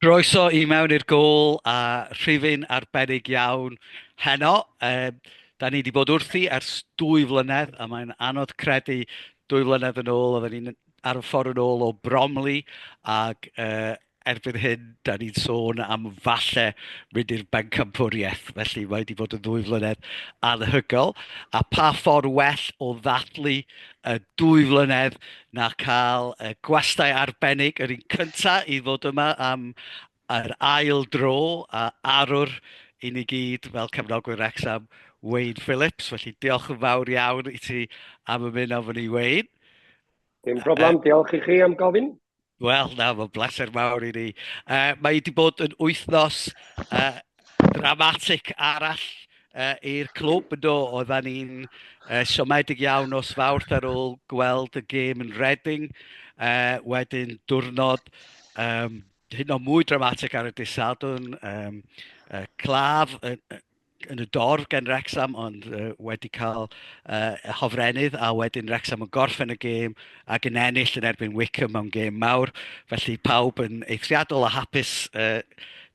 Croeso i mewn i'r gôl a rhifyn arbennig iawn heno. Um, da ni wedi bod wrthi ers dwy flynedd a mae'n anodd credu dwy flynedd yn ôl oedden ni'n ar y ffordd yn ôl o Bromley ac uh, erbyn hyn da ni'n sôn am falle mynd i'r bencampwriaeth felly mae wedi bod yn ddwy flynedd anhygoel a pa ffordd well o ddathlu y dwy flynedd na cael y gwastai arbennig yr un cynta i ddod yma am yr ail dro a arwr i ni gyd fel cefnogwyr Wrexham, Wayne Phillips. Felly diolch yn fawr iawn i ti am ymuno efo ni, Wayne. Dim problem, diolch i chi am gofyn. Wel, na, mae'n bleser mawr i ni. Uh, mae wedi bod yn wythnos uh, dramatic arall uh, i'r clwb yn do. Oedda ni'n uh, siomedig iawn os fawrth ar ôl gweld y gêm yn Reading. Uh, wedyn diwrnod um, hyn o mwy dramatic ar y disad yn um, uh, claf, uh, yn y dorf gen Wrecsam ond uh, wedi cael uh, hofrennydd a wedyn Wrecsam yn gorffen y gêm ac yn ennill yn erbyn Wickham mewn gêm mawr. Felly pawb yn eithriadol a hapus uh,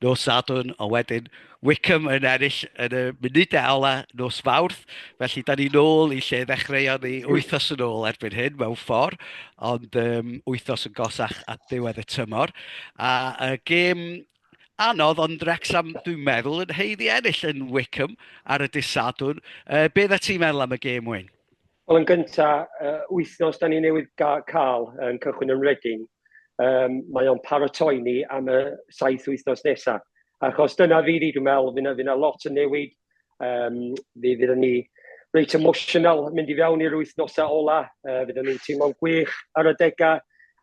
nos Sadwn, ond wedyn Wickham yn ennill yn y munudau ola nos Fawrth. Felly da ni'n ôl i lle ddechreuon ni wythnos yn ôl erbyn hyn mewn ffordd, ond um, wythnos yn gosach at ddiwedd y tymor. A y gêm anodd, ond Wrexham, dwi'n meddwl, yn heiddi ennill yn Wickham ar y disadwn. Uh, beth y ti'n meddwl am y gêm, Wyn? Wel, yn gyntaf, uh, wythnos da ni newydd cael yn cychwyn yn Reading, um, mae o'n paratoi ni am y saith wythnos nesaf. Achos dyna fi di, dwi'n meddwl, fyna, fyna lot yn newid, Um, fi fydd yn ni reit emotional mynd i fewn i'r wythnosau ola. Uh, fydd yn ni'n teimlo'n gwych ar y degau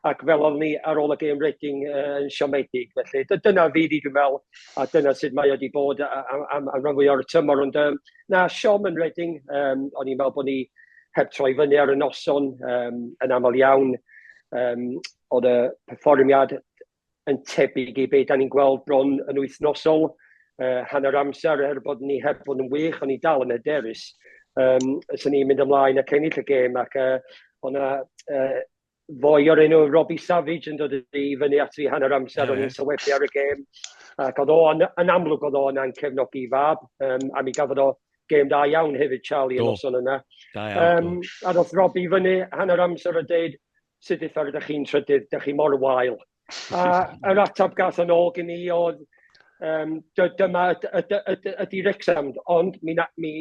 ac fel o'n ni ar ôl y gêm Reading uh, yn siomedig. Felly dyna fi di dwi'n meddwl a dyna sut mae wedi bod am, am, am rhan fwy o'r tymor. Ond um, na, siom yn Reading, um, o'n i'n meddwl bod ni heb troi fyny ar y noson um, yn aml iawn. Um, oedd y perfformiad yn tebyg i be da ni'n gweld bron yn wythnosol, uh, hanner amser, er bod ni heb fod yn wych, ond ni dal yn hyderus. Um, so ni'n mynd ymlaen ac ennill y gêm, ac uh, o'na uh, foi o'r enw Robbie Savage yn dod i fyny at fi hanner amser, yeah. o'n i'n sylwebu ar y gêm, ac oedd o'n, yn amlwg oedd o'n ancefnogi fab, um, a mi gafodd o gêm da iawn hefyd, Charlie, yn noson yna. Da iawn. Um, a ddoth Robbie fyny hanner amser a dweud, sut eitha rydych chi'n trydydd, dych chi mor wael. A yr atab gath yn ôl gen i oedd, um, dyma ydy Rexham, ond mi, na, mi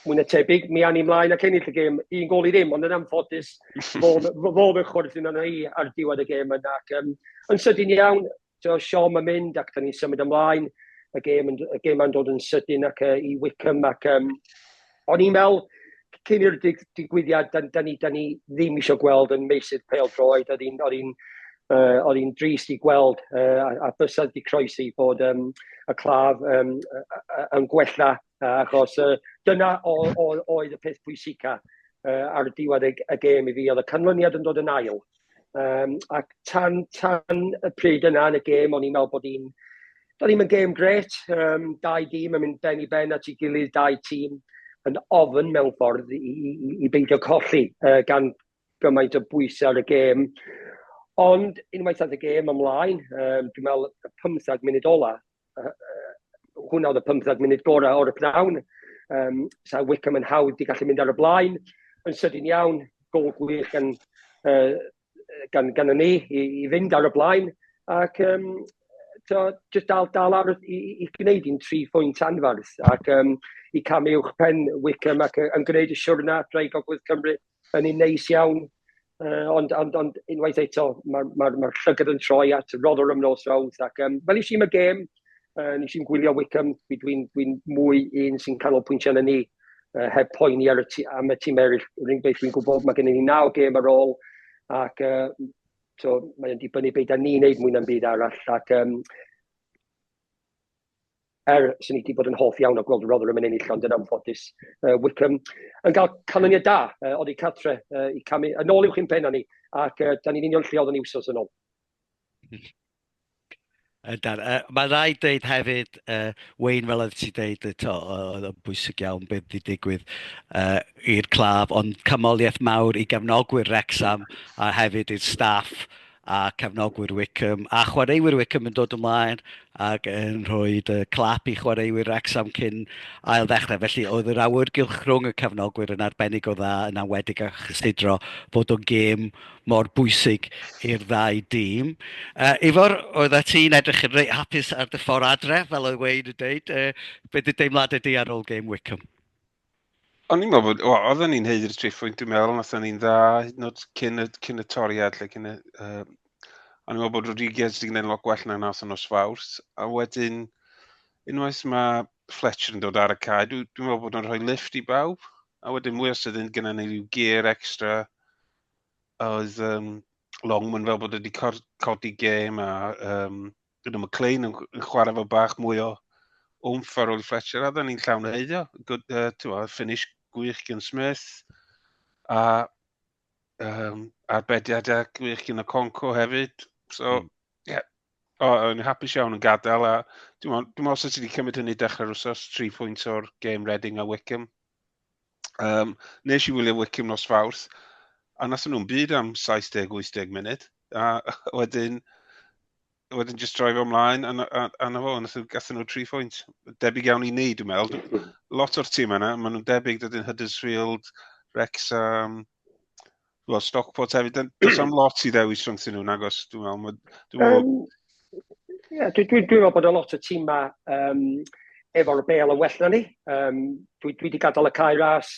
mwy na tebyg, mi anni mlaen ac ennill y gêm, un gol i ddim, ond yn anffodus, fo fy chwrdd yn yna i ar diwedd y gêm yna. Ac, um, yn sydyn iawn, So, siom yn mynd ac da ni'n symud ymlaen, y gêm, y gêm yn dod yn sydyn ac uh, i Wickham ac um, o'n i'n meddwl cyn i'r dig, digwyddiad da, da, ni, da ni ddim eisiau gweld yn meysydd pel droed, oedd hi'n uh, oedd hi'n drist i gweld uh, a, a bysedd di croesi bod um, y claf um, yn gwella achos uh, dyna oedd y peth pwysica uh, ar diwedd y, y gêm i fi, oedd y canlyniad yn dod yn ail. Um, ac tan, tan y pryd yna yn y gêm, o'n i'n meddwl bod hi'n... Da ni'n mynd gêm gret, um, dau dîm yn mynd ben i ben at ei gilydd, dau tîm yn ofyn mewn ffordd i, i, i beidio colli uh, gan gymaint o bwysau ar y gêm. Ond unwaith oedd y gêm ymlaen, um, dwi'n meddwl y 15 munud ola, hwnna oedd y 15 munud gorau o'r pnawn. Um, sa Wickham yn hawdd i gallu mynd ar y blaen. Yn sydyn iawn, gol gwych gan, uh, gan, gan y ni i, i fynd ar y blaen. Ac um, to, just dal, dal ar i, i gwneud i'n tri phwynt anfarth ac um, i camu uwch pen Wickham ac yn gwneud y siwrna drwy Gogledd Cymru yn un neis iawn, uh, ond, ond, ond unwaith eto, mae'r ma, ma, ma llygad yn troi at Rotherham nos Rawth, ac um, fel i si'n y gêm, uh, nes i'n gwylio Wickham, dwi'n dwi, dwi mwy un sy'n canolbwyntio yn ni, uh, heb poeni ar y ti, am y tîm eraill, rhywun beth dwi'n gwybod, mae gennym ni naw gêm ar ôl, ac uh, so, mae'n dibynnu beth da ni'n neud mwy na'm byd arall, ac um, Er, swn i 'di bod yn hoff iawn o gweld Rotherham yn ennill, ond yn anffodus, yy, Wycombe yn cael canlyniad da, yy, oddi cartre, yy, i camu yn ôl uwch i'n pennau ni, ac yy, da ni'n union lle oeddwn i wsos yn ôl. Yndan. Uh, mae rai dweud hefyd, uh, Wayne, fel oedd ti dweud, oedd yn bwysig iawn beth wedi digwydd uh, i'r claf, ond cymoliaeth mawr i gefnogwyr Rexham a hefyd i'r staff a cefnogwyr Wycombe a chwaraewyr Wycombe yn dod ymlaen ac yn rhoi y clap i chwaraewyr Wrexham cyn ail ddechrau. Felly oedd yr awyrgylch rhwng y cefnogwyr yn arbennig o dda yn awedig a chysidro fod o'n gêm mor bwysig i'r ddau dîm. Uh, Ifor, oedd a ti'n edrych yn reit hapus ar dy ffordd adre, fel oedd Wayne yn dweud. Uh, beth y deimlad ydy ar ôl gêm Wycombe? O'n i'n meddwl bod, wel, oedden ni'n heud i'r triphwynt, dwi'n meddwl, nath ni'n dda, hyd yn oed cyn y, cyn y toriad, lle cyn y... Uh, o'n i'n meddwl bod Rodriguez wedi gwneud lot gwell na nath yn nos fawrth, a wedyn, unwaith mae Fletcher yn dod ar y cae, dwi'n dwi meddwl bod nhw'n rhoi lift i bawb, a wedyn mwy os ydyn gyda ni rhyw gear extra, oedd um, Longman fel bod wedi codi gêm a um, Gyda McLean yn, yn chwarae fo bach mwy o wmff ar ôl Fletcher, a dda ni'n llawn heiddio. Good, uh, tiwa, finish gwych gen Smith, a um, arbediadau gwych gen y Conco hefyd. So, mm. yeah, oh, o'n i'n hapus iawn yn gadael, a dwi'n meddwl, os ydych wedi cymryd hynny dechrau'r wsos, 3 pwynt o'r game Reading a Wickham. Um, nes i wylio Wickham nos Fawrth, a nas nhw'n byd am 70-80 munud, a wedyn, wedyn just droi fo ymlaen, a, a, a na fo, nath nhw, gathen nhw tri phwynt. Debyg iawn i ni, dwi'n meddwl. Lot o'r tîm yna, maen nhw'n debyg dydyn Huddersfield, Wrexham, Wel, Stockport hefyd, does am lot i ddewis rhwng sy'n nhw'n agos, dwi'n meddwl. Dwi'n meddwl... Um, yeah, dwi'n dwi, dwi meddwl bod y lot o tîma um, efo'r bel yn well na ni. Um, dwi, dwi wedi gadael y cae ras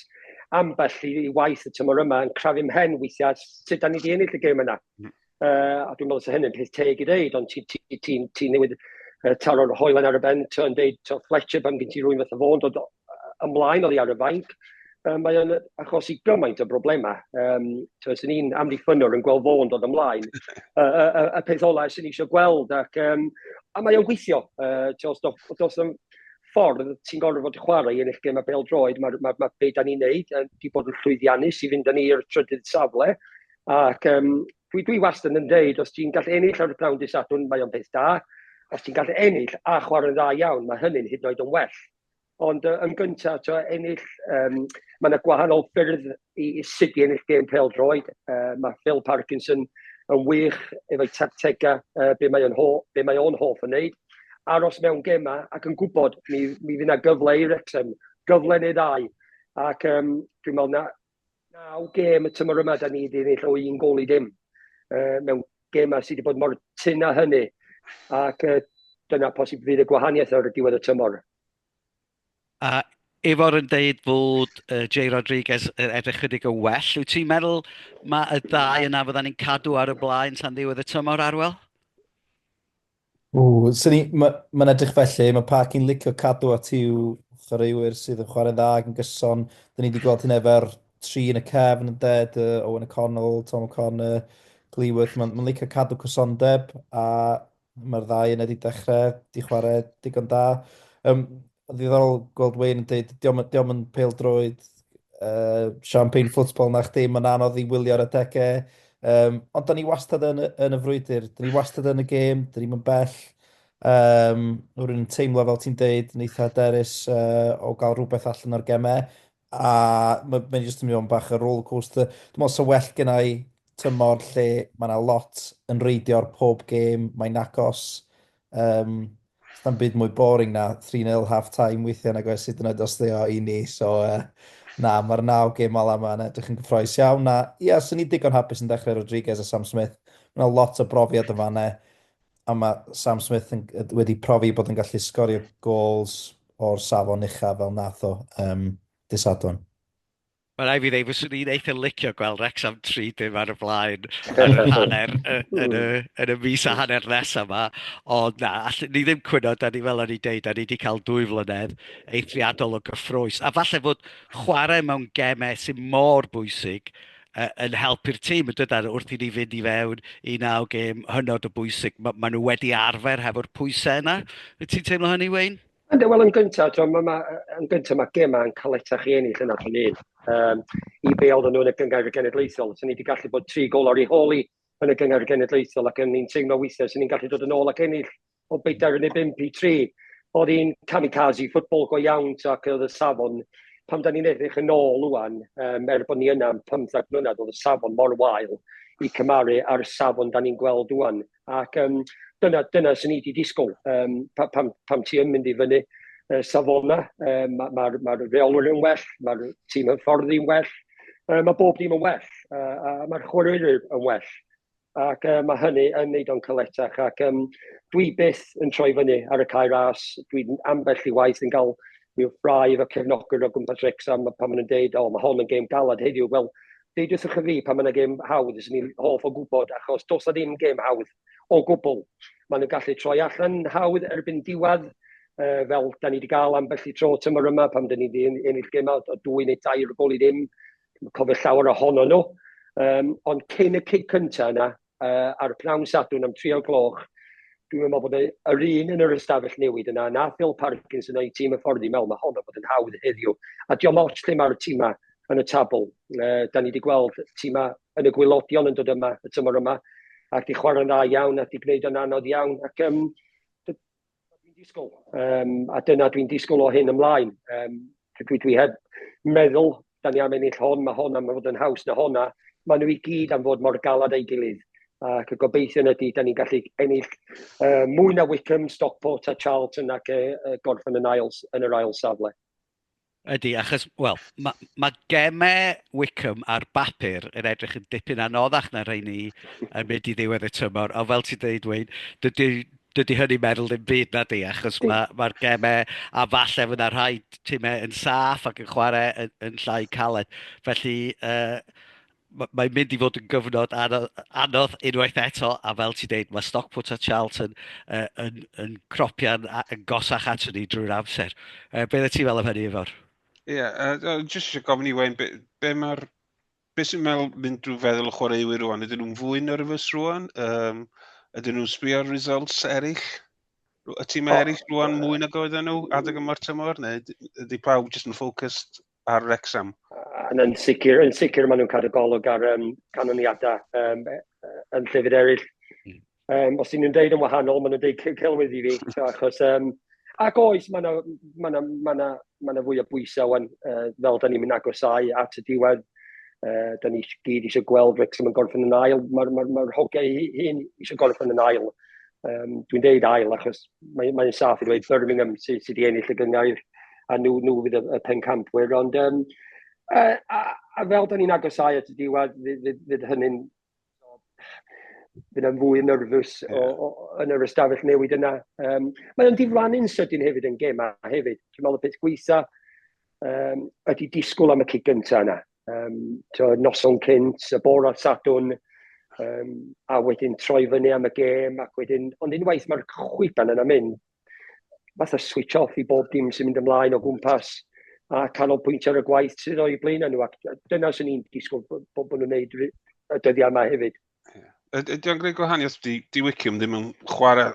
ambell i, i waith y tymor yma yn crafu mhen weithiau sut da ni wedi ennill y gêm yna. Mm. Uh, a dwi'n meddwl sy'n hynny'n peth teg i ddeud, ond ti'n ti, ti, ti newid uh, taro'r hoelen ar y ben, ti'n deud, to Fletcher, pan gen ti rwy'n fath o fôn dod ymlaen oddi ar y fainc, uh, mae o'n achosi gymaint o broblemau. Um, Os ni'n amddiffynwr yn gweld fôn dod ymlaen, uh, uh, y peth olau sy'n eisiau gweld, ac, um, a mae o'n gweithio. Uh, os dos, dos yn ffordd ti'n gorfod fod chwarae yn eich gem a bel droed, mae'r ma, ma, ma be da ni'n neud, uh, di bod yn llwyddiannus i fynd â ni i'r trydydd safle, Ac yym dwi dwi wastad yn deud, os ti'n gallu ennill ar y pnawn dydd Sadwrn, mae o'n beth da. Os ti'n gallu ennill a chwarae'n dda iawn, mae hynny'n hyd yn oed yn well. Ond yy yn gyntaf, tibod, ennill, yym, mae 'na gwahanol ffyrdd i i sut i ennill gêm pêl-droed. Yy, mae Phil Parkinson yn wych efo'i tactegau, yy, be mae o'n ho- be mae o'n hoff o wneud. Aros mewn gemau ac yn gwybod mi mi fydd 'na gyfle i Wrecsam, gyfle neu ddau. Ac yym dwi'n meddwl na Naw gêm y tymor yma, da ni wedi ennill o un gol i dim uh, mewn gemau sydd wedi bod mor tyn a hynny. Ac uh, dyna posib fydd y gwahaniaeth ar y diwedd y tymor. A Ifor yn deud bod uh, Jay Rodriguez yn edrych chydig yn well. Wyt ti'n meddwl mae y ddau yna fydda ni'n cadw ar y blaen tan ddiwedd y tymor, Arwel? Ww, so ni, ma, mae'n edrych felly, mae Parc yn licio cadw at i'w chwaraewyr sydd yn chwarae'n dda ac yn gyson. Dyna ni wedi gweld hyn efo'r tri yn y cefn, yn ded, uh, Owen O'Connell, Tom O'Connor, Glyworth. Mae'n ma licio cadw cysondeb a mae'r ddau yn wedi dechrau di chwarae digon da. Um, Mae'n ddiddorol gweld Wayne yn dweud, diolch di yn pel droed uh, champagne football na chdi, mae'n anodd i wylio ar y degau. Um, ond da ni wastad yn, yn y frwydr, da ni wastad yn y gêm, da ni'n bell. Um, rwy'n teimlo fel ti'n deud, yn eitha derus uh, o gael rhywbeth allan o'r gemau. a mae ma jyst yn mynd i fod yn bach o rollercoaster. Dwi'n meddwl sa well gen i tymor lle mae yna lot yn reidio ar pob gêm, mae'n agos. Um, Sa'n byd mwy boring na 3-0 half time weithiau nag oes hyd yn oed os dde o i ni. So, uh, na, mae'r naw gêm ola yma yn edrych yn gyffroes iawn. Na, ia, sy'n ni digon hapus yn dechrau Rodriguez a Sam Smith. Mae yna lot o brofiad yn fanna. a mae Sam Smith yn, wedi profi bod yn gallu sgorio gols o'r safon uchaf fel nath o um, disadwn. Mae rai fi ddeud, fyswn i'n eitha licio gweld Rexham 3 dim ar y blaen yn y hanner, yn y, yn y mis a hanner nes yma. Ond na, all, ni ddim cwyno, da ni fel o'n i'n deud, da ni wedi cael dwy flynedd eithriadol o gyffroes. A falle fod chwarae mewn gemau sy'n mor bwysig uh, yn helpu'r tîm yn dydyn wrth i ni fynd i fewn i naw gêm hynod o bwysig. Mae ma nhw wedi arfer hefo'r pwysau yna. Wyt ti'n teimlo hynny, Wayne? Ynddo, wel yn gyntaf, ma, ma, yn gyntaf mae gemau yn caletach i ennill yna pan un. Um, I be oedden nhw yn y gyngair y genedlaethol. Sy'n ni wedi gallu bod tri gol ar ei holi yn y gyngair y genedlaethol ac yn ni'n teimlo weithiau sy'n ni'n gallu dod yn ôl ac ennill o 45 i 3. Oedd hi'n kamikaze football go iawn, ac oedd y safon, pam da ni'n edrych yn ôl wwan, um, er bod ni yna am 15 mlynedd, oedd y safon mor wael i cymaru ar y safon da ni'n gweld wwan. Ac um, dyna, dyna sy'n ni wedi disgwyl, um, pa, pam, pam ti yn mynd i fyny uh, safona, um, mae'r ma, ma, ma reolwyr yn well, mae'r tîm hyfforddi yn well, uh, mae bob dim yn well, uh, a mae'r chwaraewyr yn well. ac yy mae hynny yn wneud o'n caletach ac yym dwi byth yn troi fyny ar y cae ras, dwi'n ambell i waith yn cael rhyw ffrae efo cefnogwyr o gwmpas Wrecsam pan maen nhw'n deud, o mae hon yn gêm galed heddiw, wel deudwch wrtho fi pan mae yna gêm hawdd, fyswn i'n hoff o gwybod achos does na ddim gêm hawdd o gwbl. Maen nhw'n gallu troi allan hawdd erbyn diwedd, uh, fel da ni wedi cael ambell i tro tymor yma pan da ni wedi ennill gêm o dwy neu dair o gol i ddim, Dwi'n cofio llawer ohono nhw. Um, ond cyn y cig cyntaf yna, uh, ar y pnawn sadwn am tri o'r gloch, dwi'n meddwl bod yr un yn yr ystafell newid yna, na Phil Parkins yn ei tîm y ffordd i mewn, mae honno bod yn hawdd heddiw. A diolch ots lle mae'r tîmau yn y tabl. Uh, da ni wedi gweld tîmau yn y gwylodion yn dod yma, y tymor yma, ac di chwarae'n dda iawn, ac di gwneud yn anodd iawn. Ac um, dwi'n disgwyl, um, a dyna dwi'n disgwyl o hyn ymlaen. Um, dwi, dwi heb meddwl, da ni am ennill hon, mae hon am fod yn haws na honna. Mae nhw i gyd am fod mor galad ei gilydd. Ac y gobeithion ydy, da ni'n gallu ennill uh, mwy na Wickham, Stockport a Charlton ac uh, gorffen yn, ail, yn yr ail safle. Ydy, achos, wel, mae ma gemau Wickham ar bapur yn edrych yn dipyn anoddach na rhain ni yn mynd i ddiwedd y tymor, ond fel ti'n dweud, Wayne, dydy, dydy hynny meddwl ddim byd na di, achos mae'r ma, ma gemau, a falle fyna rhai timau yn saff ac yn chwarae yn, yn llai caled. Felly, uh, mae'n mynd i fod yn gyfnod anodd unwaith eto, a fel ti'n deud, mae Stockport a Charlton uh, yn, yn cropian yn gosach at ni drwy'r amser. Uh, Beth y ti fel am hynny, Ifor? Ie, yeah, uh, jyst eisiau gofyn i Wayne, be, be mae'r... Be sy'n meddwl mynd drwy feddwl y chwaraewyr rwan? Ydyn nhw'n fwy nerfus rwan? Um, ydyn nhw'n sbio ar results eraill? Y tîm oh, eraill rwan mwy nag oedden nhw adeg yma'r tymor? Neu ydy pawb jyst yn ffocust ar Wrexham. Yn, yn sicr, yn sicr maen nhw'n cadw golwg ar um, canlyniadau um, yn llefydd eraill. Um, os ydyn nhw'n deud yn wahanol, maen nhw'n deud celwydd i fi, so, achos... Um, ac oes, mae yna ma ma ma ma ma fwy o bwysau wan, uh, fel da ni'n mynd agosau at y diwedd. Uh, da ni gyd eisiau gweld Wrexham yn gorffen yn ail. Mae'r ma, ma, ma hogiau hyn eisiau gorffen yn ail. Um, dwi'n deud ail achos mae'n mae saff i dweud Birmingham sydd sy, sy wedi ennill y gyngair a nhw, nhw fydd y, y pencampwyr. Ond um, a, a, a fel da ni'n agosau at y diwedd, fydd, fydd, fydd hynny'n bydd yn fwy nyrfus yeah. o, o, yn yr ystafell newid yna. Um, mae o'n diflannu'n sydyn hefyd yn gema hefyd. Dwi'n meddwl y peth gweitha um, ydy disgwyl am y cig gyntaf yna. um, to, noson cynt, y bore ar Sadwn, um, a wedyn troi fyny am y gêm, ac wedyn, ond unwaith mae'r chwiban yna mynd, fath o switch off i bob dim sy'n mynd ymlaen o gwmpas a canolbwyntio ar y gwaith sydd o'i blaen nhw. Ac dyna sy'n ni'n disgwyl bod, bod nhw'n gwneud y dyddiau yma hefyd. Ydy o'n gwneud gwahaniaeth? Di, di Wickham ddim yn chwarae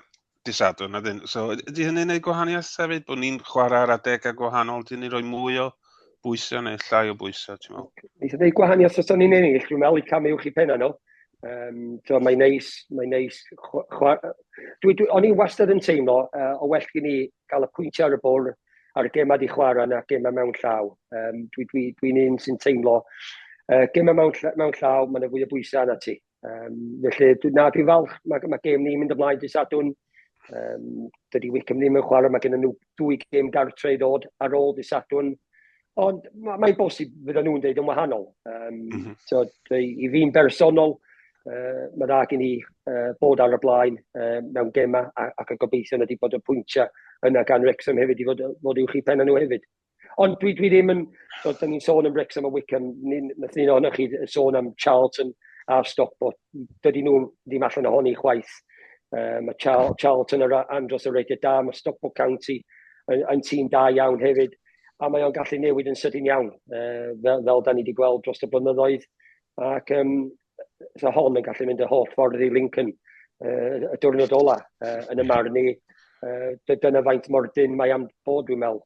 disadwn, na dyn. So, ydy hynny'n gwneud gwahaniaeth hefyd? Bod ni'n chwarae ar adegau gwahanol, dyn ni roi mwy o bwysau neu llai o bwysau, ti'n meddwl? Ni'n gwneud gwahaniaeth os o'n i'n ennill, dwi'n meddwl i cam uwch i penna nhw. Um, so, mae'n neis, mae'n neis. Chwa... Dwi, dwi, o'n i'n wastad yn teimlo uh, o well gen i gael y pwyntiau ar y bwrdd a'r gemau di chwarae na gemau mewn llaw. Um, Dwi'n dwi, dwi, dwi un sy'n teimlo uh, gemau mewn, mewn llaw, mae yna fwy o bwysau yna ti. Um, felly, dwi, na, dwi'n falch, mae, mae gem ni'n mynd ymlaen dy sadwn. Um, dydy Wickham ddim yn chwarae, mae gen nhw dwy gem gartre i ddod ar ôl dy sadwn. Ond mae'n mae bosib fydda nhw'n deud yn wahanol. Um, mm -hmm. so, I fi'n bersonol, uh, mae dda gen i uh, bod ar y blaen uh, mewn gemau ac y gobeithio ydy bod y pwyntiau yna gan Wrexham hefyd i fod, fod i'w chi pen nhw hefyd. Ond dwi, dwi ddim yn, so, dyn ni'n sôn am Wrexham a Wickham, nath ni'n ohonoch chi sôn am Charlton a Stockport, dydy nhw ddim allan ohoni chwaith. Uh, mae Charlton ar andros o reitio da, mae Stockport County yn, yn tîm da iawn hefyd. a mae o'n gallu newid yn sydyn iawn, uh, fel, fel da ni wedi gweld dros y blynyddoedd, ac um, so hon yn gallu mynd y holl ffordd i Lincoln uh, y diwrnod ola uh, yn y marn ni. Uh, dyna faint mor dyn mae am bod, dwi'n meddwl.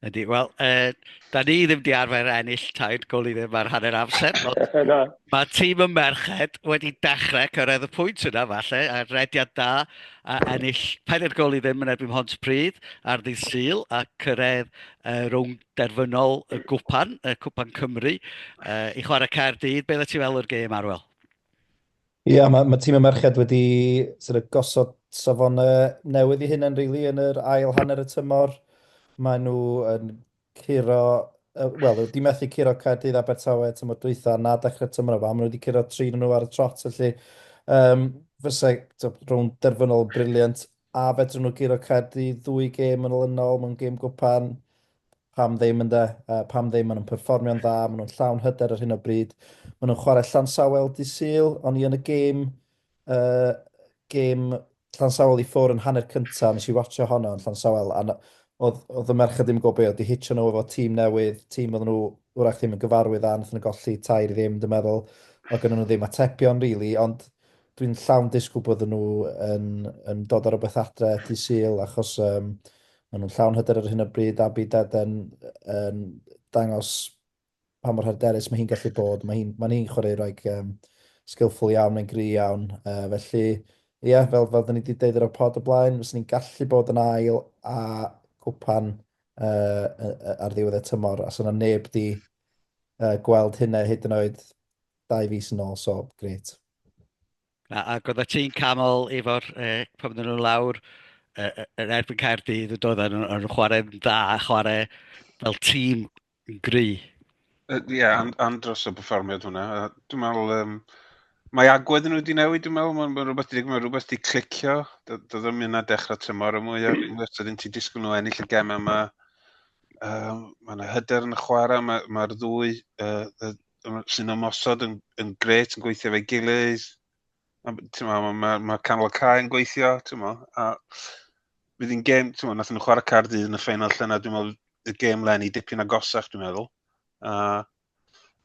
Ydy, wel, uh, da ni ddim di arfer ennill taid gol i ddim ar hanner amser. Ond... Mae tîm y merched wedi dechrau cyrraedd y pwynt yna falle, a rediad da a ennill pedair gol i ddim yn erbyn Hont Pryd ar ddydd Sul a cyrraedd uh, rownd derfynol y gwpan, y cwpan Cymru, uh, i chwarae Caerdydd. Beth ti fel o'r gêm, Arwel? Ie, yeah, mae ma tîm y merched wedi sort of, gosod safonau newydd i hyn yn rili really, yn yr ail hanner y tymor. Mae nhw yn curo, wel, wedi methu curo Caerdydd Abertawe tymor dwytha na dechrau tymor yma. Maen nhw wedi curo tri nhw ar y trot, felly um, fysa rhwng derfynol briliant. A fedrwn nhw guro Caerdydd ddwy gêm yn olynol mewn gêm gwpan. Pam ddim yn de, uh, pam ddim, maen nhw'n perfformio'n dda, maen nhw'n llawn hyder ar hyn o bryd. Maen nhw'n chwarae Llansawl di syl, ond i yn y gêm y gêm Llansawel i ffwr yn hanner cynta, nes i watcho honno yn Llansawel, a oedd, oedd y merched ddim yn gwybod beth oedd di hitio nhw efo tîm newydd, tîm oedd nhw wrach ddim yn gyfarwydd â, nath nhw golli tair i ddim, dwi'n meddwl, oedd gen nhw ddim atebion, rili, really, ond dwi'n llawn disgwyl bod nhw yn, yn dod ar rhywbeth adre di syl, achos um, maen nhw'n llawn hyder ar hyn o bryd, a bydd Deden yn dangos pa mor hyderus mae hi'n gallu bod. Mae hi'n mae hi chwaraewraig um, skillful iawn, mae'n gri iawn. Uh, felly, ie, yeah, fel, fel da ni wedi deud ar y pod y blaen, fes ni'n gallu bod yn ail a gwpan uh, ar ddiwedd y tymor, a sy'n yna neb di uh, gweld hynna hyd yn oed dau fus yn ôl, so gret. Na, ac oedd ti'n camol efo'r uh, pan oedden nhw'n lawr uh, yn erbyn Caerdydd, yn dod yn, yn chwarae yn dda, chwarae fel tîm Yn gry. Ie, yeah, and, and dros y perfformiad hwnna. Dwi'n meddwl, um, mae agwedd nhw wedi newid, dwi'n meddwl, mae'n ma rhywbeth wedi mae rhywbeth wedi clicio. Doedd ddim yna dechrau tymor y mwy, os ydyn ti disgwyl nhw ennill y gem yma. Um, mae yna hyder yn y chwarae, mae'r mae ddwy uh, sy'n ymosod yn, yn gret, yn gweithio fe gilydd. Mae ma, ma canol y cae yn gweithio, ti'n mo, a bydd hi'n gêm, ti'n mo, nath nhw chwarae car dydd yn y ffeinal lle na, dwi'n meddwl, y gêm lenni dipyn agosach, dwi'n meddwl. A,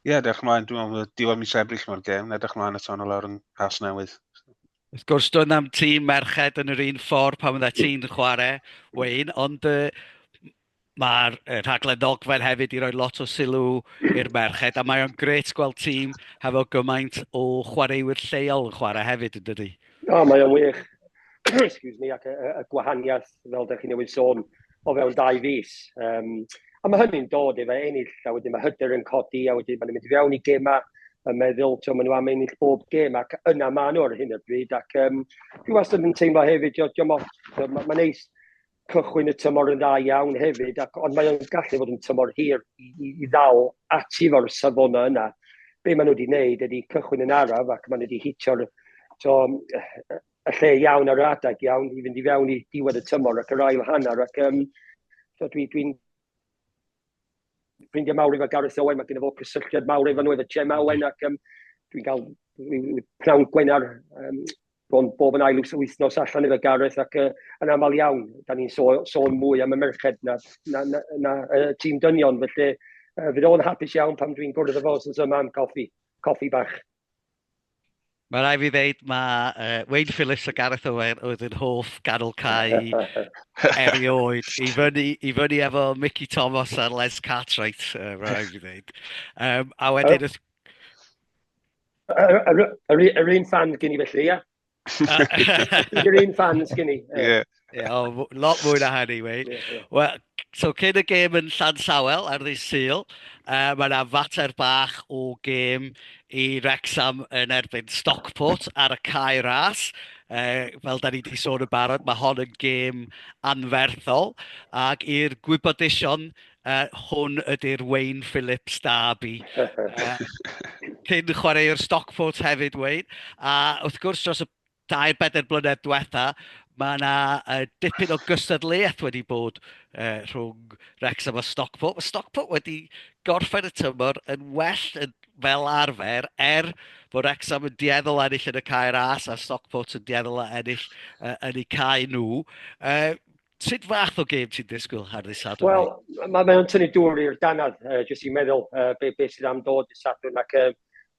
ie, yeah, edrych mlaen, dwi'n meddwl, diwedd mis ebryll mae'r gêm, edrych mlaen eto yn lawr yn cas newydd. Wrth gwrs, dwi'n am tîm merched yn yr un ffordd pan fydda ti'n chwarae, Wayne, ond uh, Mae'r rhaglen ddogfen hefyd wedi rhoi lot o sylw i'r merched a mae o'n gret gweld tîm hefo gymaint o chwaraewyr lleol yn chwarae hefyd yn dydy? O, mae o'n wych. Excuse me, ac y, y gwahaniaeth, fel ydych chi newydd sôn, o fewn dau fus. Um, a mae hynny'n dod efo ennill, a wedyn mae hyder yn codi, a wedyn mae'n mynd i fewn i gemau y meddwl, ti'n maen nhw am ennill bob gêm, ac yna maen nhw ar hyn o bryd, ac um, dwi wastad yn teimlo hefyd, diolch, diolch, mae'n neis cychwyn y tymor yn dda iawn hefyd, ac, ond mae o'n gallu fod yn tymor hir i, i, i ddal ati fo'r safonau yna. Be maen nhw wedi gwneud ydy cychwyn yn araf ac maen nhw wedi hitio'r y lle iawn ar yr adeg iawn i fynd i fewn i diwedd y tymor ac yr ail hanner ac um, so dwi'n dwi, ffrindiau mawr efo Gareth Owen, mae gen i fo cysylltiad mawr efo nhw, efo Jem Owen ac um, dwi'n cael pnawn gwenar um, Bron bob yn ail wythnos allan iddo Gareth ac uh, yn aml iawn, da ni'n so, sôn mwy am y merched na, na, na, na uh, tîm dynion, felly uh, fydd o'n hapus iawn pam dwi'n gwrdd efo os yma am coffi, coffi bach. Mae rai fi ddeud, mae uh, Wayne Phillips a Gareth Owen oedd yn hoff ganol cae erioed. I fyny, I fyny efo Mickey Thomas a Les Cartwright, uh, mae rai fi ddeud. Um, a wedyn, oh. Yr un fan gen i felly, ia? Yr un fan gen i. Ie. Ie, o, lot mwy na hynny, Wayne. Yeah, yeah. Wel, so cyn y gêm yn Llan Sawel ar ddydd Sul, uh, mae yna fater bach o gêm i Rexham yn erbyn Stockport ar y cae ras. Uh, fel da ni wedi sôn yn barod, mae hon yn gêm anferthol. Ac i'r gwybodaethon Yy, hwn ydy'r Wayne Phillips Derby. Cyn chwaraewr Stockport hefyd, Wayne. A wrth gwrs, dros y dau bedair blynedd diwetha, mae yna uh, dipyn o gystadleuaeth wedi bod uh, rhwng Wrexham a Stockport. Mae Stockport wedi gorffen y tymor yn well yn fel arfer, er bod Wrexham yn dieddol ennill yn y cair as a Stockport yn dieddol ennill uh, yn eu cair nhw. Uh, Sut fath o gêm ti'n disgwyl ar ddydd Sadwrn? Wel, mae ma o'n tynnu dŵr i'r danad, uh, jyst i'n meddwl uh, beth be sydd am dod dydd Sadwrn ac uh,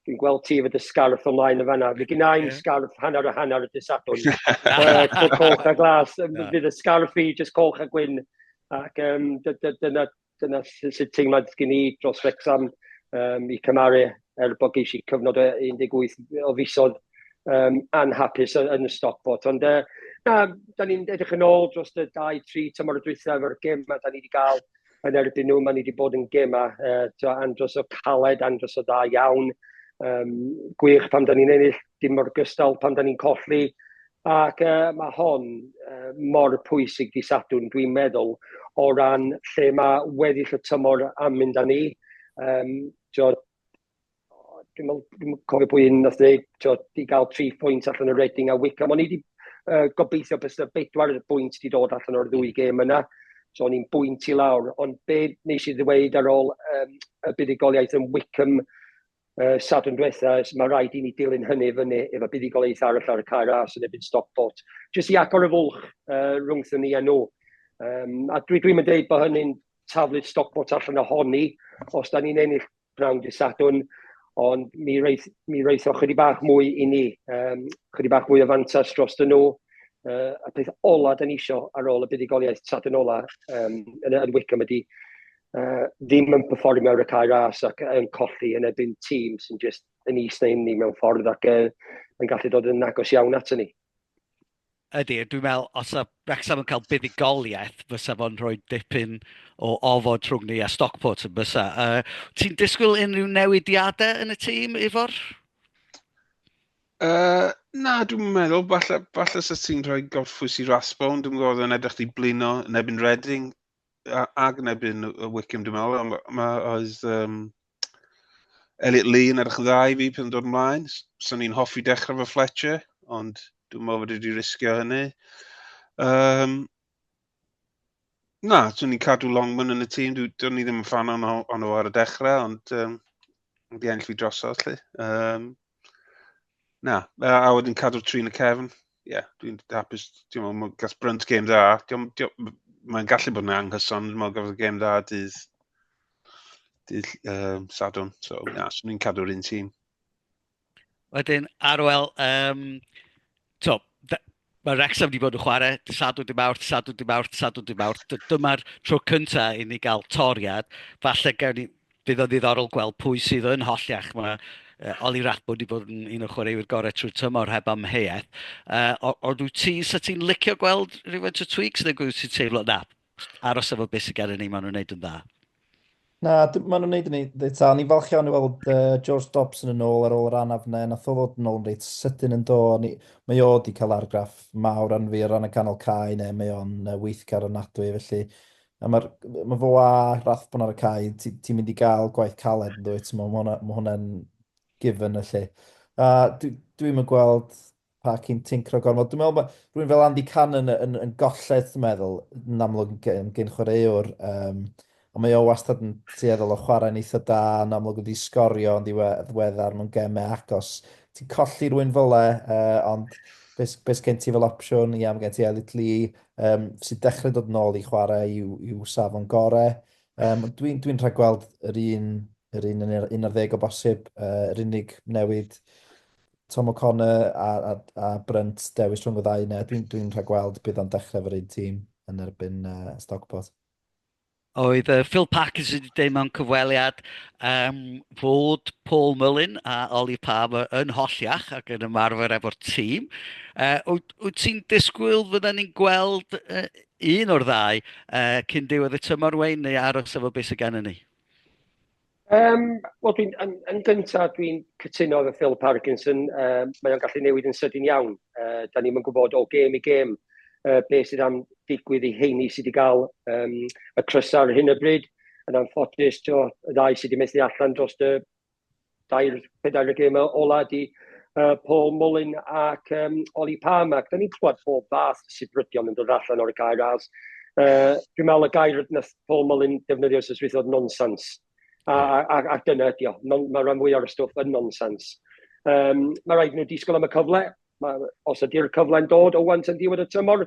dwi'n gweld ti fod y sgarff ymlaen yn fanna. Fe gynnau yeah. sgarff hanner a hanner y dydd Sadwrn. uh, colch a glas, yeah. fydd y sgarff i jyst colch a gwyn. Ac um, dyna, dyna sut teimlad gen i dros Wrexham um, i cymaru er bod geis i cyfnod o 18 o fisodd um, anhapus yn y stopot. Ond uh, na, da ni'n edrych yn ôl dros y 2-3 tymor y dwythau efo'r gym a da ni wedi cael yn erbyn nhw. Mae ni wedi bod yn gym a uh, andros o caled, andros o dda iawn. Um, gwych pam da ni'n ennill, dim mor gystal pam da ni'n colli. Ac yy ma' hon yy mor pwysig dydd Sadwrn dwi'n meddwl o ran lle mae weddill y tymor am mynd â ni. Yym t'wod dwi'n meddwl dwi'm yn cofio pwy un wnaeth ddeud t'wod i gael tri phwynt allan o Reading a Wycombe. O'n i 'di yy gobeithio byse bedwar bwynt 'di dod allan o'r ddwy gêm yna, so o'n i'n bwynt i lawr. Ond be wnes i ddeweud ar ôl yym y buddugoliaeth yn Wycombe uh, Sadwrn diwetha, mae rhaid i ni dilyn hynny fyny efo buddugoliaeth arall ar y cair as yn ebyn stop bot, jyst i agor y fwlch uh, rhwngthyn ni a nhw. Um, a dwi, dwi'n mynd dweud bod hynny'n taflu'r stop bot allan ohoni, os da ni'n ennill brawn dy Sadwrn, ond mi, reith, mi reitho chydig bach mwy i ni, um, chydig bach mwy o fantas dros dyn nhw, uh, y peth ola da ni isio ar ôl y buddugoliaeth tradyn ola um, yn, yn Wickham ydy uh, ddim yn performio ar y cae ras ac yn colli yn ebyn tîm sy'n just yn is na inni mewn ffordd ac uh, yn gallu dod yn agos iawn at ni. Ydy, dwi'n meddwl, os yw Wrexham yn cael buddugoliaeth, fysa fo'n rhoi dipyn o ofod trwg ni a Stockport yn bysa. Uh, ti'n disgwyl unrhyw newidiadau yn y tîm, Ifor? Uh, na, dwi'n meddwl, falle, falle sa ti'n rhoi gorffwys i Rasbon, dwi'n gwybod yn edrych di blino yn ebyn Reading, ag yn ebyn y wicim dwi'n meddwl, ond mae oedd um, Elliot Lee yn edrych yn dda i fi pan dod ymlaen. Sa'n ni'n hoffi dechrau fy Fletcher, ond dwi'n meddwl bod wedi risgio hynny. Um, na, dwi'n ni'n cadw Longman yn y tîm, dwi'n ni ddim yn fan o'n o ar y dechrau, ond um, wedi enll fi drosodd, lle. Um, Na, a, a wedyn cadw'r tri yn y cefn. Ie, yeah, dwi'n hapus. Ti'n meddwl, mae gas Brunt gêm dda. Mae'n gallu bod yn anghyson, dwi'n meddwl gafodd gêm dda dydd, dydd um, Sadwn. So, ie, yeah, so ni'n cadw'r un tîm. Wedyn, Arwel, um, to, Mae Wrexham wedi bod yn chwarae dy sadwn, dy mawrth, sadwn, dy mawrth, sadwn, dy mawrth. Dyma'r tro cyntaf i ni gael toriad. Falle gawn ni... Bydd o'n ddiddorol gweld pwy sydd yn holliach. Mae uh, Oli Ratbo wedi bod yn un o chwaraewyr gorau trwy tymor heb amheuaeth. Uh, ond wyt ti, sa ti'n licio gweld rhywfaint o tweaks neu gwyd ti'n teimlo na? aros efo beth sydd gennym ni, maen nhw'n gwneud yn dda. Na, maen nhw'n gwneud yn ei ddetal. Ni'n falch iawn i weld uh, George Dobson yn ôl ar ôl yr anaf yna. Nath o ddod yn ôl yn reit sydyn yn do. Ni, mae o wedi cael argraff mawr arno fi ar ran y canol cae neu mae o'n uh, weithgar o nadwy felly. A mae'r ma fo a Rathbon ar y cae, ti'n ti mynd i gael gwaith caled yn dweud, mae hwnna'n ma hwnna given felly. A dwi'n dwi gweld pa chi'n tincro gormod. Dwi'n meddwl bod rhywun fel Andy Cannon yn, yn, yn golled, dwi'n meddwl, yn amlwg yn gyn chwaraewr. Um, ond mae o wastad yn tueddol o chwarae'n eitha da, yn amlwg wedi sgorio yn ddiweddar mewn gemau agos. Ti'n colli rhywun fel e, uh, ond beth be gen ti fel opsiwn, ia, mae gen ti Elliot Lee, um, sy'n dechrau dod yn ôl i chwarae i'w, i'w safon gore. Um, Dwi'n dwi, rhaid gweld yr un, yr un yn yr 11 o bosib, uh, yr unig newid Tom O'Connor a, a, a Brunt dewis rhwng y ddau yna. Dwi'n dwi rhagweld bydd o'n dechrau efo'r un tîm yn erbyn uh, Stockport. Oedd uh, Phil Parkins wedi dweud mewn cyfweliad um, fod Paul Mullin a Ollie Palmer yn holliach ac yn ymarfer efo'r tîm. Uh, wyt ti'n disgwyl fydden ni'n gweld uh, un o'r ddau uh, cyn diwedd y tymor wein neu aros efo beth sydd gen ni? Yym, wel dwi'n yn yn gynta dwi'n cytuno efo Phil Parkinson, yy mae o'n gallu newid yn sydyn iawn. Yy dan ni'm yn gwybod o gêm i gêm yy be sydd am digwydd i heini sydd wedi cael yym y crysau ar hyn o bryd. Yn anffodus, ti'o, y ddau sydd wedi methu allan dros y dair, pedair y gêm ola ydi uh, Paul Mullin ac um, Oli Palm ac da ni'n clywed pob fath sifrydion yn dod allan o'r gair as. Uh, dwi'n meddwl y gair nath Paul Mullin defnyddio wrth y oedd nonsens. A, a, a, a dyna ydi o. Non, mae rhan fwy o'r stwff yn nonsens. Um, mae rhaid nhw disgwyl am y cyfle. Mae, os ydy'r cyfle'n dod o wan yn diwedd y tymor,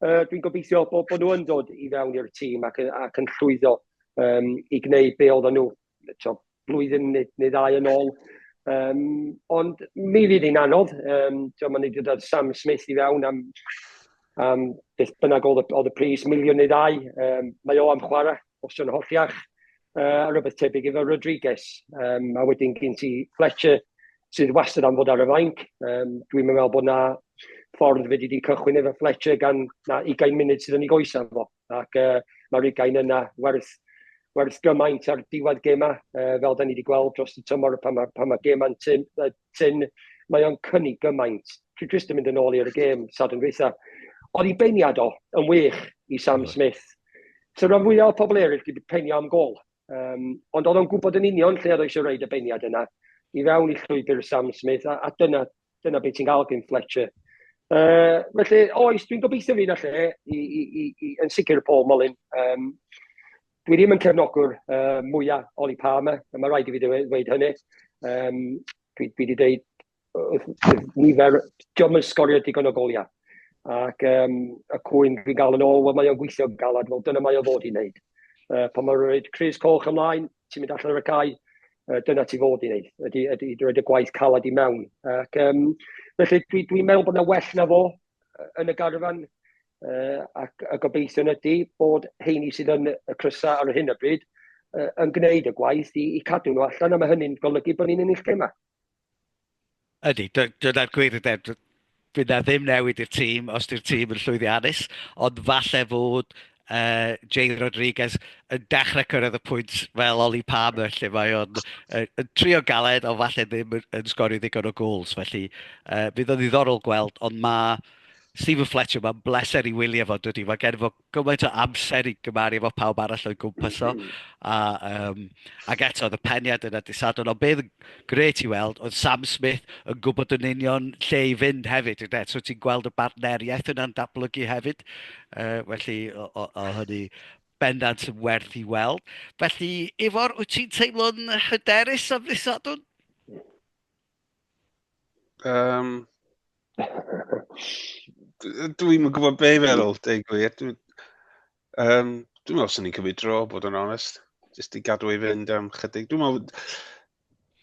uh, dwi'n gobeithio bod, bod nhw yn dod i fewn i'r tîm ac, ac yn llwyddo um, i gwneud be oedden nhw, blwyddyn neu neu ddau yn ôl. Yym, ond mi fydd hi'n anodd, yym, tibod, mae'n neidio da Sam Smith i fewn am, am beth bynnag oedd y, oedd y pris, miliwn neu ddau. Um, mae o am chwarae, os yw'n holliach, uh, a rhywbeth tebyg efo Rodriguez. Um, a wedyn gyn ti Fletcher, sydd wastad am fod ar y fainc. Um, Dwi'n meddwl bod na ffordd fe wedi cychwyn efo Fletcher gan na 20 munud sydd yn ei goesau fo. Ac uh, mae'r ugain yna werth, werth gymaint ar diwedd gemau, uh, fel da ni wedi gweld dros y tymor pan mae, pan mae gemau'n tyn, uh, tyn mae o'n cynnig gymaint. Dwi jyst yn mynd yn ôl i'r gêm sad yn dweitha. Oedd i beiniad o yn wych i Sam Smith. So rhan fwyaf o pobl eraill wedi penio am gol. Um, ond oedd o'n gwybod yn union lle oedd eisiau rhaid y beiniad yna i fewn i llwybr Sam Smith a, a dyna, Dyna beth ti'n cael gen Fletcher. Uh, felly, oes, dwi'n gobeithio fi na lle, i, i, i, i, yn sicr Paul Molyn. Um, dwi ddim yn cefnogwr uh, mwyaf Oli Palmer, a mae rhaid i fi ddweud hynny. Um, dwi, dwi wedi dweud nifer, diolch yn sgorio digon o goliau. Ac um, y cwyn dwi'n gael yn ôl, wel mae o'n gweithio galad, wel dyna mae o fod i wneud. Uh, pan mae'n rhaid Chris Coch ymlaen, ti'n mynd allan ar y cae, uh, dyna ti fod i wneud, ydy, ydy, ydy roed y gwaith calad i mewn. Ac, um, felly, dwi'n dwi meddwl bod yna well na fo yn y garfan, uh, ac y gobeithio ydy bod heini sydd yn y crysau ar hyn o bryd uh, yn gwneud y gwaith i, i cadw nhw allan, a mae hynny'n golygu bod ni'n ennill gemau. Ydy, dyna'r gwir ynde. Fydd 'na ddim newid i'r tîm os yw'r tîm yn llwyddiannus, ond falle fod Jay Rodriguez yn dechrau cyrraedd y pwynt fel Ollie Palmer lle mae o'n trio galed ond falle ddim yn sgorio ddigon o gols. Felly fydd o'n ddiddorol gweld, ond mae Steven Fletcher, mae'n bleser i wylio fo, dydy. Mae gen fo gymaint o amser i gymaru efo pawb arall o'i gwmpas o. Mm-hmm. A, um, ac eto, oedd y peniad yna disadwn. Ond beth gret i weld, oedd Sam Smith yn gwybod yn union lle i fynd hefyd. Yde? So ti'n gweld y bartneriaeth yna'n datblygu hefyd. Uh, felly, o, o, o hynny bendant yn werth i weld. Felly, Ifor, wyt ti'n teimlo'n hyderus am ddisadwn? Um, Dwi'n yn gwybod be i feddwl, deg gwir. Dwi'n um, dwi meddwl sy'n ni'n cymryd dro, bod yn onest. Jyst i gadw ei fynd am chydig. Dwi'n meddwl,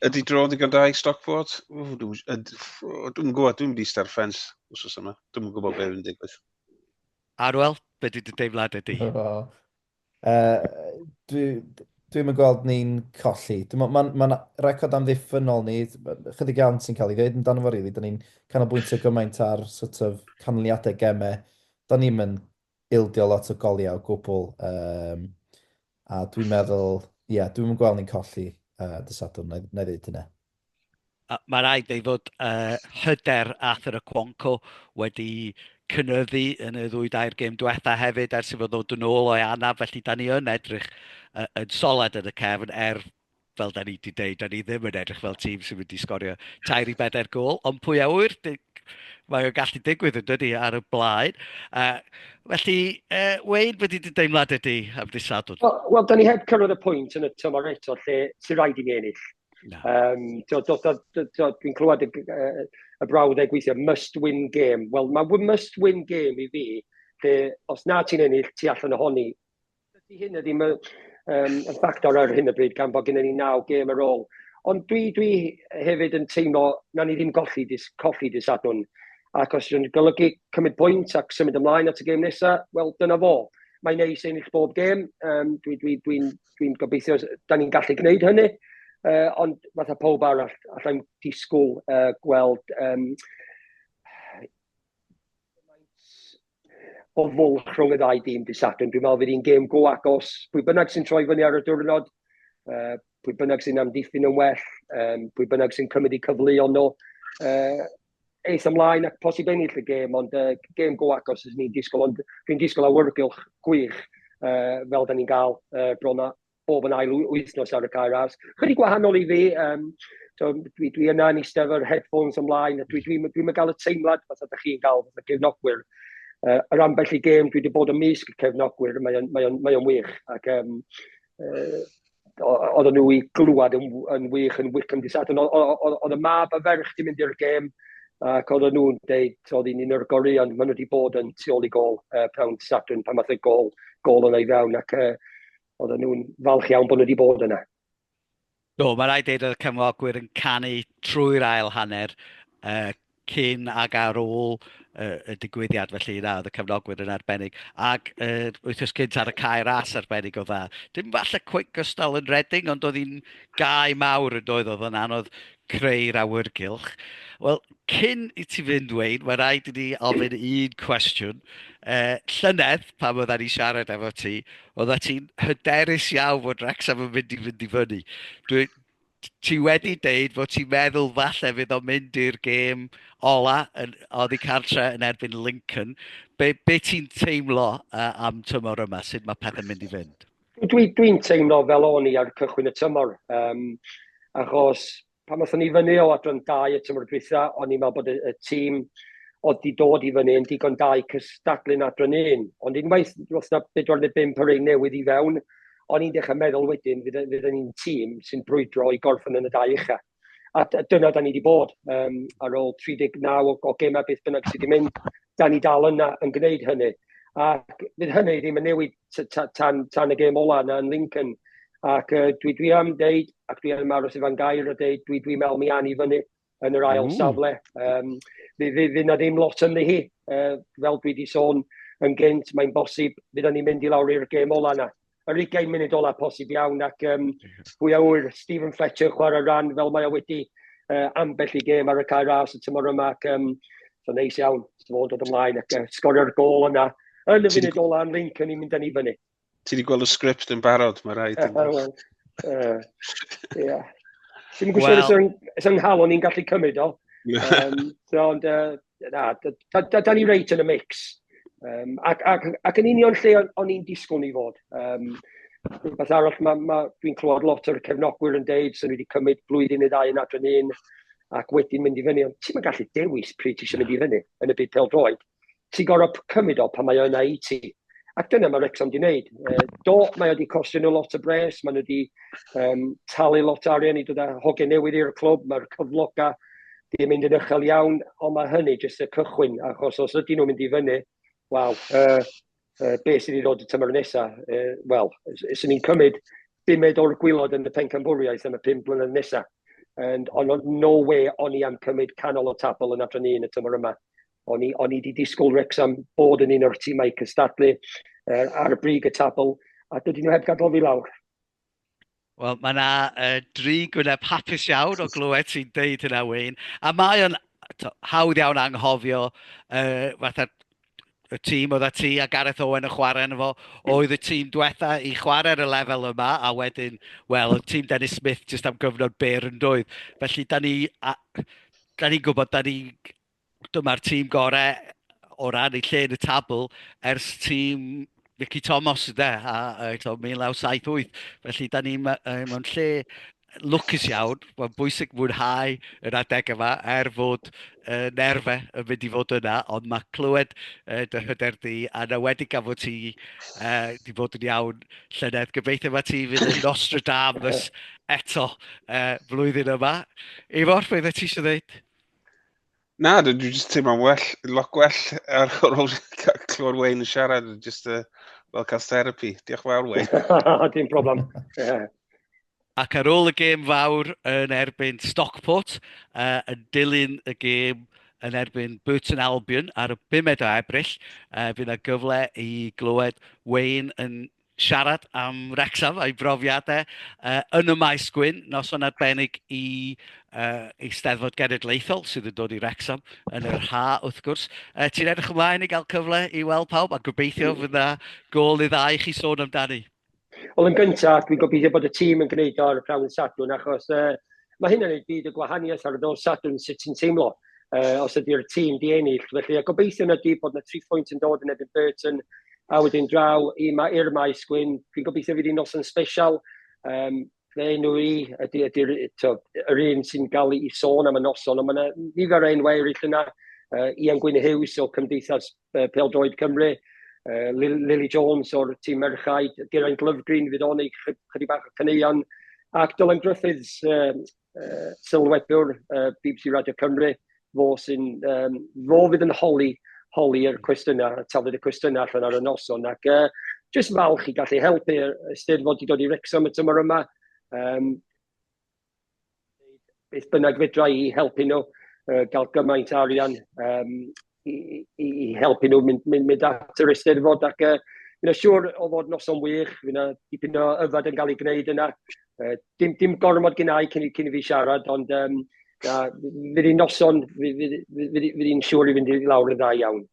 ydy dro ddigon da i Stockport? Dwi'n gwybod, dwi'n mynd i star ffens os oes yma. Dwi'n gwybod beth yn digwydd. Arwel, be dwi wedi deimlad ydy? Uh, dwi, dwi'n mynd gweld ni'n colli. Mae'n ma, ma record amddiffynol ni, chydig iawn sy'n cael ei ddeud amdano fo, really. Da ni'n canolbwyntio gymaint ar sort of canlyniadau gemau. Da ni'n mynd ildio lot o goliau o gwbl. Um, a dwi'n meddwl, ie, yeah, dwi'n mynd gweld ni'n colli uh, dysadwn, na i ddeud hynna. Mae'n rhaid ei fod uh, hyder Arthur y Cwonco wedi cynyddu yn y ddwy dair gêm diwetha hefyd ers i fod ddod yn ôl o'i anaf, felly da ni yn edrych uh, yn solad yn y cefn er fel da ni wedi dweud, da ni ddim yn edrych fel tîm sy'n mynd i sgorio tair i bedair gol, ond pwy a wyr, mae o'n gallu digwydd yn dydy ar y blaen. Uh, felly, uh, Wayne, wedi dy deimlad ydy am ddisadwn? Wel, well, da ni heb cyrraedd y pwynt yn y tymor eto lle sy'n rhaid i ni ennill Um, Dwi'n clywed y, y, y brawddeg gweithio, must win game. Wel, mae must win game i fi, lle os na ti'n ennill, ti allan ohoni. Dydy hyn ydy um, yn ffactor ar hyn y bryd, gan bod gennym ni naw gêm ar ôl. Ond dwi, dwi hefyd yn teimlo na ni ddim golli dis, colli dis adwn. Ac os yw'n golygu cymryd pwynt ac symud ymlaen at y gêm nesaf, wel, dyna fo. Mae'n neis ennill bob gêm. Um, Dwi'n dwi, dwi, dwi dwi'n gobeithio, da ni'n gallu gwneud hynny, uh, ond fatha pob arall, allai'n disgwyl uh, gweld um, o fwlch rhwng y ddau dîm dydd Sadwrn. Dwi'n meddwl fydd hi'n gêm go agos. Pwy bynnag sy'n troi fyny ar y diwrnod, uh, pwy bynnag sy'n amddiffyn yn well, um, pwy bynnag sy'n cymryd i cyfleu ond nhw, uh, eitha mlaen ac posib ennill y gêm, ond uh, gêm go agos sy'n ni'n disgwyl, ond fi'n disgwyl awyrgylch gwych uh, fel da ni'n gael uh, bron a bob yn ail wythnos ar y cair ars. Chydig gwahanol i fi, um, so, dwi, dwi yna yn eistedd yr headphones ymlaen, a dwi'n dwi, dwi, dwi, dwi gael y teimlad fath ydych chi'n gael fath y cefnogwyr. Uh, yr ambell i gêm, dwi wedi bod yn mysg y cefnogwyr, mae'n mae mae wych, ac um, uh, oedden nhw i glwad yn, yn wych yn Wickham dy Sadwrn. Oedd y mab a ferch di mynd i'r gêm ac oedden nhw'n deud oedd hi'n un o'r goreuon maen nhw wedi bod yn tu ôl i gol uh, prawn dy Sadwrn pan math y gol, gol yn ei fewn ac uh, oedden nhw'n falch iawn bod nhw wedi bod yna. Do, mae rhaid dweud oedd y cefnogwyr yn canu trwy'r ail hanner, uh, cyn ag ar ôl uh, y digwyddiad, felly na, oedd y cefnogwyr yn arbennig. Ac uh, wythnos cynt ar y cae ras arbennig o dda. Dim falle cwig gystal yn redding, ond oedd hi'n gau mawr yn doedd, oedd yn anodd creu'r awyrgylch. Wel, Cyn i ti fynd, Wayne, mae rhaid i ni ofyn un cwestiwn. Uh, llynedd, pan oedd ni siarad efo ti, oedd ti'n hyderus iawn fod Wrexham yn mynd i fynd i fyny. Dwi, ti wedi deud fod ti'n meddwl falle fydd o'n mynd i'r gêm ola yn, oddi cartre yn erbyn Lincoln. Be, be ti'n teimlo uh, am tymor yma? Sut mae pethau'n mynd i fynd? Dwi'n dwi, dwi teimlo fel o'n i ar cychwyn y tymor. Um, achos Pan wnaethon ni fyny o adran 2 y tymor dwytha, o'n i'n meddwl bod y, y tîm oedd wedi dod i fyny yn digon da i cystadlu'n adran 1. Ond unwaith roedd yna 4 neu 5 o rei newydd i fewn, o'n i'n dechrau meddwl wedyn fydd, fydd ni'n tîm sy'n brwydro i gorffen yn y dau ucha. A dyna da ni wedi bod um, ar ôl 39 o, o gemau beth bynnag sydd wedi mynd. da ni dal yna yn gwneud hynny. Ac fydd hynny ddim yn newid tan, tan y gêm ola yna yn Lincoln. Ac uh, dwi, dwi am deud, ac dwi am aros i fan gair o deud, dwi, dwi meddwl mi an i fyny yn yr ail mm. safle. Um, fy, fy, fy na ddim lot ymni hi, uh, fel dwi wedi sôn yn gynt, mae'n bosib fydd ni mynd i lawr i'r gêm ola yna. yr ugain munud ola posib iawn ac um, hwy a wyr Stephen Fletcher chwarae ran fel mae o wedi uh, ambell i gêm ar y cair ras y tymor yma ac um, so neis iawn so fod dod ymlaen ac uh, sgorio'r gol yna yn y funud ola yn Lincoln ni'n mynd â ni fyny. Ti wedi gweld y sgript yn barod, mae rhaid. Uh, well, uh, yeah. Ti'n gwybod well. sy'n nghalon ni'n gallu cymryd o. Um, so, ond, uh, Na, da, da, da, da ni reit yn y mix. Um, ac, ac, ac yn union lle o'n i'n disgwyl ni fod. Um, rhywbeth arall, ma, ma, dwi'n clywed lot o'r cefnogwyr yn deud sy'n wedi cymryd blwyddyn i ddau yn adran un ac wedyn mynd i fyny. Ond ti'n gallu dewis pryd ti eisiau mynd i fyny yn y byd pel droed. Ti'n gorau cymryd o pan mae yna i ti. Ac dyna mae Wrexham wedi gwneud. E, do, mae wedi costio nhw lot o bres, maen nhw wedi um, talu lot o arian i dod â hogiau newydd i'r clwb, mae'r cyfloga wedi mynd yn uchel iawn, ond mae hynny jyst y cychwyn, achos os ydyn nhw'n mynd i fyny, waw, uh, uh, be sydd wedi dod y tymor nesaf? Uh, Wel, sy'n ni'n cymryd bumed o'r gwylod yn y pencampwriaeth yn y pum blynedd nesaf. And on no way o'n i am cymryd canol o tabl yn adran un y tymor yma. O'n i, o'n i wedi disgwyl Wrexham bod yn un o'r tîmau cystadlu uh, ar y brig y tabl, a dydyn nhw heb gadael fi lawr. Wel, mae yna uh, dri gwyneb hapus iawn o glywed ti'n deud hynna, Wayne. A mae o'n hawdd iawn anghofio uh, fatha y tîm oedd a ti a Gareth Owen yn chwarae yn efo, oedd y tîm diwetha i chwarae ar y lefel yma, a wedyn, wel, y tîm Dennis Smith jyst am gyfnod byr yn dwydd. Felly, da ni, a, da ni'n gwybod, da ni Dyma'r tîm gorau o ran ei lle yn y tabl ers tîm Mickey Thomas yde, a, a, a 1978. Felly, da ni mewn lle lwcus iawn, mae'n bwysig mwynhau yr adeg yma, er fod uh, nerfe yn mynd i fod yna, ond mae clywed uh, dy hyder di, a na wedi gafod ti uh, di bod yn iawn llynedd. Gobeithio mae ti fydd yn Nostradamus eto uh, flwyddyn yma. Ifor, beth ti eisiau dweud? Na, dwi'n just teimlo'n well, lot gwell ar ôl clywed Wayne yn siarad, just uh, fel cael therapy. Diolch yn fawr, Wayne. Dim problem. Yeah. Ac ar ôl y gêm fawr yn erbyn Stockport, uh, yn dilyn y gêm yn erbyn Burton Albion ar y 5 o Ebrill, uh, fydd yna gyfle i glywed Wayne yn siarad am Wrecsam a'i brofiadau uh, yn y maes gwyn, noson arbennig i uh, Eisteddfod Genedlaethol sydd yn dod i Wrecsam yn yr ha, wrth gwrs. Uh, Ti'n edrych ymlaen i gael cyfle i weld pawb a gobeithio mm. fydda gol i ddau chi sôn amdani? Wel, yn gyntaf, dwi'n gobeithio bod y tîm yn gwneud o'r prawf yn sadwn, achos uh, mae hynna'n ei byd y gwahaniaeth ar y nos Sadwrn sut ti'n teimlo uh, os ydy'r tîm di ennill. Felly, a gobeithio na di bod yna tri phwynt yn dod yn ebyn Burton, a wedyn draw i ma, i'r maes gwyn. Dwi'n gobeithio fydd hi'n nos yn special. Um, fe enw i, ydy, ydy, ydy, yr un sy'n gael ei sôn am y noson, ond mae yna nifer o enwau eraill yna, uh, Ian Gwyn Hughes o Cymdeithas uh, Peldroed Cymru, uh, Lily Jones o'r tîm merchaid, Geraint Lyfgreen fydd o'n ei chydig bach o caneuon, ac Dylan Griffiths, uh, uh, sylwebwr uh, BBC Radio Cymru, fo sy'n, um, fo fydd yn holi, holi'r cwestiynau, tafod y cwestiynau allan ar y noson, ac uh, jyst falch i gallu helpu Eisteddfod i dod i Rexham y tymor yma. Um, beth bynnag fedra i helpu nhw, uh, gael gymaint arian um, i, i, i helpu nhw mynd, mynd, mynd at yr eisteddfod ac uh, fi'n siŵr o fod noson wych, fi'n dipyn o yfad yn cael ei gwneud yna. Uh, dim, dim gormod gynnau cyn, cyn i fi siarad, ond um, na, fydd hi'n noson, fydd hi'n siŵr i fynd i lawr yn dda iawn.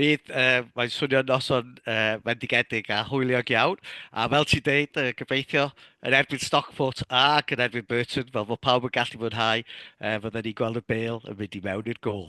Bydd, uh, mae'n swnio noson uh, fendigedig a hwyliog iawn. A fel ti'n deud, uh, gobeithio yn erbyn Stockport ac yn erbyn Burton, fel fod pawb yn gallu fwynhau, uh, fydden ni'n gweld y bel yn mynd i mewn i'r gol.